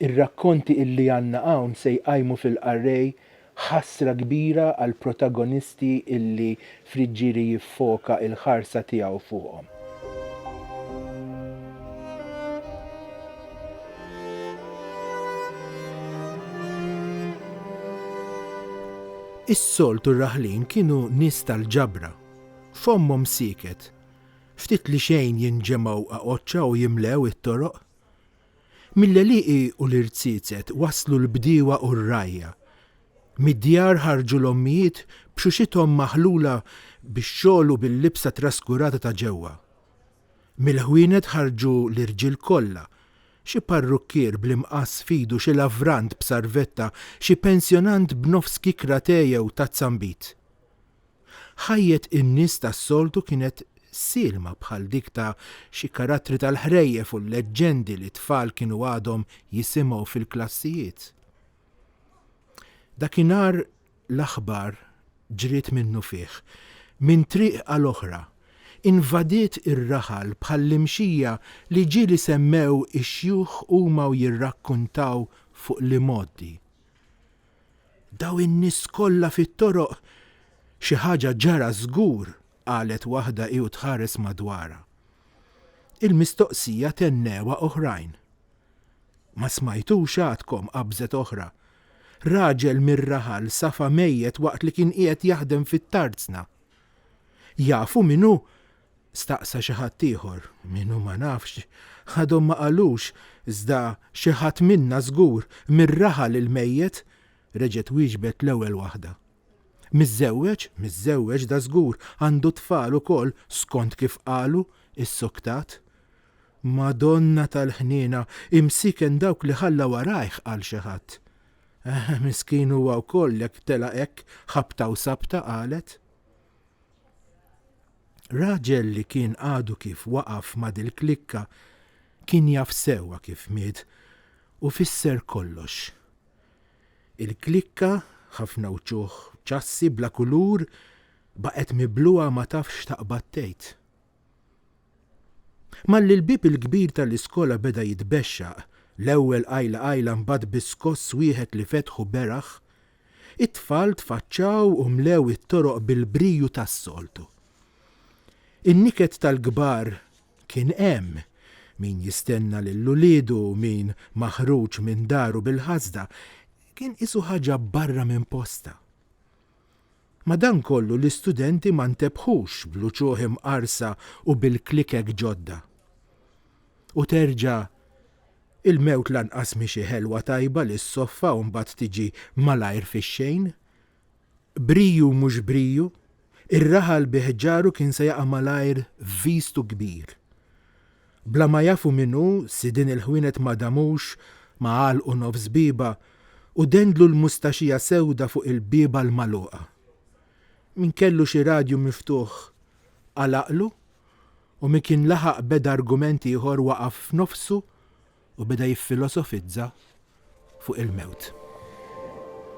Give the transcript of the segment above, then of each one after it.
Ir-rakkonti illi għandna hawn se jqajmu fil-qarrej ħasra kbira għall-protagonisti illi Friggieri jiffoka il-ħarsa tiegħu fuqhom. Is-soltu r-raħlin kienu nies tal-ġabra. Fommhom sieket. Ftit li xejn jinġemgħu aqoċċa u jimlew it-toroq. Mill-għelieqi u l-irziezet waslu l-bdiewa u r-rgħajja. Mid-djar ħarġu l-ommijiet b'xuxithom maħlula bix-xogħol u bil-libsa traskurata ta' ġewwa. Mill-ħwienet ħarġu l-irġiel kollha, xi parrukkier bl-imqass f'idu xi lavrant b'sarvetta, xi pensjonant b'nofs kikra te jew tazza nbid. Ħajjet in-nies tas-soltu kienet sielma bħal dik ta' xi karattri tal-ħrejjef u l-leġġendi li t-tfal kienu għadhom jisimgħu fil-klassijiet. Dakinhar l-aħbar ġriet minnufih, minn triq għal oħra, invadiet ir-raħal bħall-imxija li ġieli semmew ix-xjuħ huma u jirrakkuntaw fuq l-imgħoddi. Dawn in-nies kollha fit-toroq xi ħaġa ġara żgur, qalet waħda hi u tħares madwarha. Il-mistoqsija tennewha oħrajn. Ma smajtux għadkom, qabżet oħra. Raġel mir-raħal safa mejjet waqt li kien qiegħed jaħdem fit-tarzna. Jafu min hu? staqsa xi ħadd ieħor. Minnu ma nafx. Għadhom ma qalux, iżda xi ħadd minna żgur, mir-raħal il-mejjet, reġgħet wieġbet l-ewwel waħda. Miżżewweġ? Miżżewweġ dażgur, għandu t-tfal ukoll, skont kif qalu, issoktat. Madonna tal-ħniena, imsiken dawk li ħalla warajh, qal xi ħadd. Eh, miskin huwa wkoll jekk telaq hekk ħabta u sabta, qalet. Raġel li kien għadu kif waqaf ma' dil-klikka kien jaf sewwa kif miet u fisser kollox. Il-klikka, ħafna wċuħ ċassi bla kulur, baqgħet mibluha ma tafx x'taqbad tgħid. Malli l-bieb il-kbir tal-iskola beda jitbexxaq, l-ewwel qajla qajla mbagħad biskoss wieħed li fetħu beraħ, It-tfal tfaċċaw u mlew it-toroq bil-briju tas-soltu. In-niket tal-kbar kien hemm, min jistenna lil uliedu, min maħruġ minn daru bil-ħasda, kien qisu ħaġa barra minn postha. Madankollu l-istudenti ma ntebħux bl-uċuħ imqarsa u bil-klikek ġodda. u terġa' il-mewt lanqas mhi xi ħelwa tajba li ssoffa u mbagħad tiġi malajr fix-xejn. Briju mhux briju, ir-raħal bi ħġaru kien se jaqa' malajr f'vistu kbir. Bla ma jafu min hu, sidien il-ħwienet ma damux ma għalqu nofs bieba u dendlu l-mustaxija sewda fuq il-bieba l-magħluqa. Min kellu xi radju miftuħ għalaqlu u min kien laħaq beda argument ieħor waqaf f'nofsu u beda jiffilosofizza fuq il-mewt.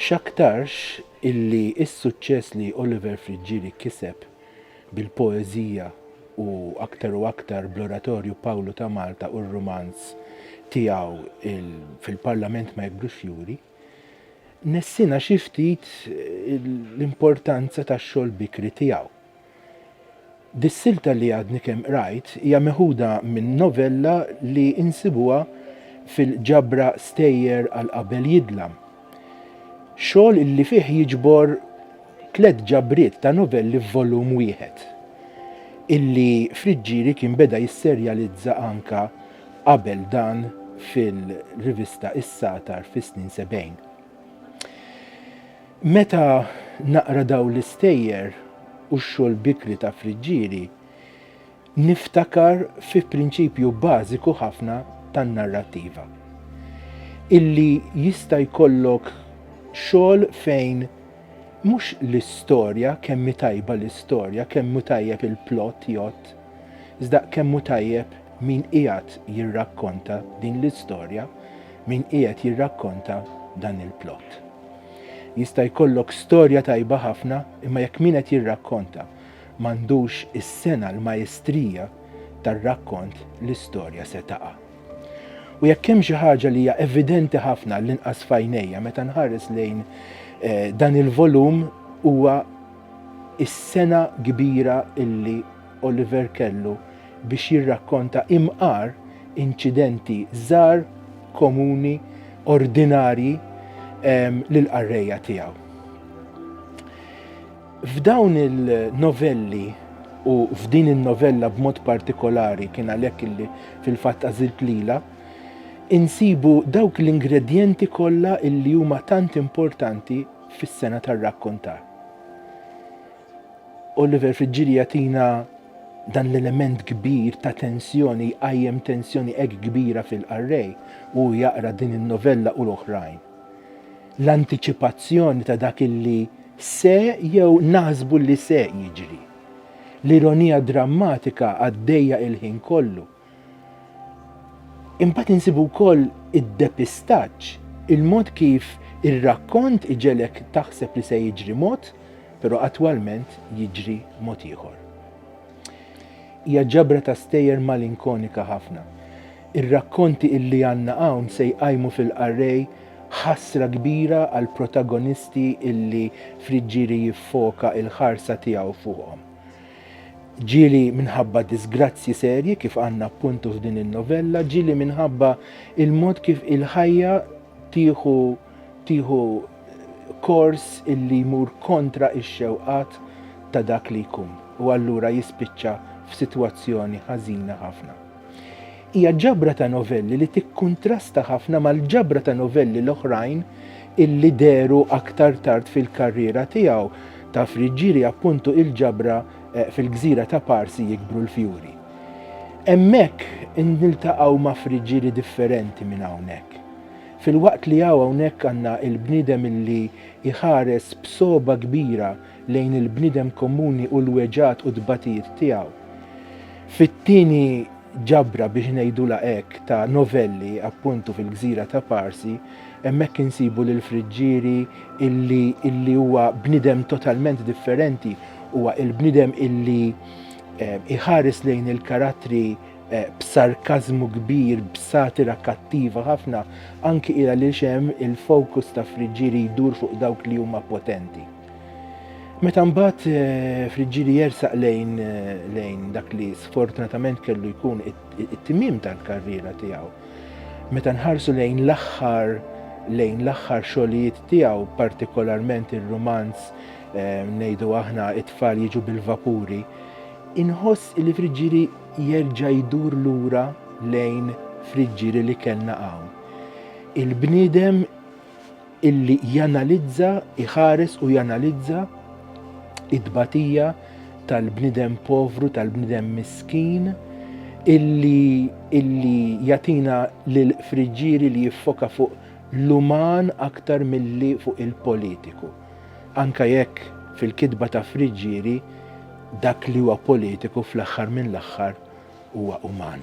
X'aktarx illi s-suċċess li Oliver Friggieri kiseb bil-poeżija u aktar u aktar bl-oratorju Pawlu ta' Malta u r-rumanz tiegħu fil-Parlament ma jikbrux juri, nessina xi ftit l-importanza tax-xogħol bikri tiegħu. Dis-silta li għadni kemm qrajt hija meħuda minn novella li insibuha fil-ġabra Stejjer għal qabel jidlam. Xogħol li fih jiġbor tliet ġabriet ta' novelli f'volum wieħed, illi Friggieri kien beda jisserjalizza anka qabel dan fil-rivista Is-Satar fis-snin sebgħin. Meta naqra dawn l-istejjer u x-xogħol bikri ta' Friggieri, niftakar fi prinċipju bażiku ħafna tan-narrattiva. Illi jista' jkollok xogħol fejn mhux l-istorja, kemm hi tajba l-istorja, kemm hu tajjeb il-plot jgħodd, iżda kemm hu tajjeb min qiegħed jirrakkonta din l-istorja, min qiegħed jirrakkonta dan il-plot. Jista' jkollok storja tajba ħafna imma jekk min qed jirrakkonta m'għandux is-sengħa l-majstrija tar-rakkont l-istorja se taqa'. U jekk hemm xi ħaġa li hija evidenti ħafna għall-inqas f'għajnejja meta nħares lejn dan il-volum huwa is-sengħa kbira illi Oliver kellu biex jirrakkonta imqar inċidenti żgħar, komuni, ordinarji lill-qarrejja tiegħu. F'dawn il-novelli u f'din in-novella b'mod partikolari kien għalhekk illi fil-fatt għażilt lila, insibu dawk l-ingredjenti kollha illi huma tant importanti fis-sengħa tar-rakkontar. Oliver Friggieri jagħtina dan l-element kbir ta' tensjoni, jqajjem tensjoni hekk kbira fil-qarrej u hu jaqra din in-novella u l-oħrajn. L-antiċipazzjoni ta' dak li se jew naħsbu li se jiġri. L-ironija drammatika għaddejja il-ħin kollu. Imbagħad insibu wkoll id-depistaġġ, il-mod kif ir-rakkont iġegħlek taħseb li se jiġri mod, però attwalment jiġri mod ieħor. Hija ġabra ta' stejjer malinkonika ħafna. Ir-rakkonti illi għandna hawn se jqajmu fil-qarrej ħasra kbira għall-protagonisti illi Friggieri jiffoka l-ħarsa tiegħu fuqhom. Ġieli minħabba disgrazzji serji kif għandna appuntu f'din in-novella, ġieli minħabba il-mod kif il-ħajja tieħu tieħu kors illi jmur kontra x-xewqat ta' dak li jkun u allura jispiċċa f'sitwazzjoni ħażina ħafna. Hija ġabra ta' novelli li tikkuntrasta ħafna mal-ġabra ta' novelli l-oħrajn illi dehru aktar tard fil-karriera tiegħu, ta' Friggieri appuntu il-ġabra Fil-Gżira ta' Parsi Jikbru l-Fjuri. Hemmhekk niltaqgħu ma' Friggieri differenti minn hawnhekk. Filwaqt li hawnhekk għandna l-bniedem illi jħares b'sogħba kbira lejn il-bniedem komuni u l-weġgħat u t-tbatijiet tiegħu. Fit-tieni ġabra, biex ngħidulha hekk, ta' novelli, appuntu fil-gżira ta' Parsi, hemmhekk insibu lil Friggieri illi illi huwa bniedem totalment differenti, huwa il-bniedem illi iħares lejn il-karattri b'sarkażmu kbir, b'satira kattiva ħafna, anki il-għaliex hemm il-fokus ta' Friggieri jdur fuq dawk li huma potenti. Meta mbagħad eh, Friġġili jersaq lejn eh, lejn dak li sfortunatament kellu jkun it-timim tal-karriera tiegħu. Meta nħarsu lejn l-aħħar lejn l-aħħar xogħlijiet tiegħu, partikolarment ir-rumanz eh, ngħidu aħna it-tfal jiġu bil-vapuri, inħoss li Friġġili jerġa' jdur lura lejn Friġġili li kellna hawn. Il-bniedem illi janalizza, iħares u janalizza it-tbatija tal-bniedem povru, tal-bniedem miskin, illi, illi jatina l-friġġieri li jiffoka fuq l-uman aktar milli fuq il-politiku. Anka jekk fil-kitba ta' Friġġieri dak li huwa politiku fl-aħħar mill-aħħar huwa uman.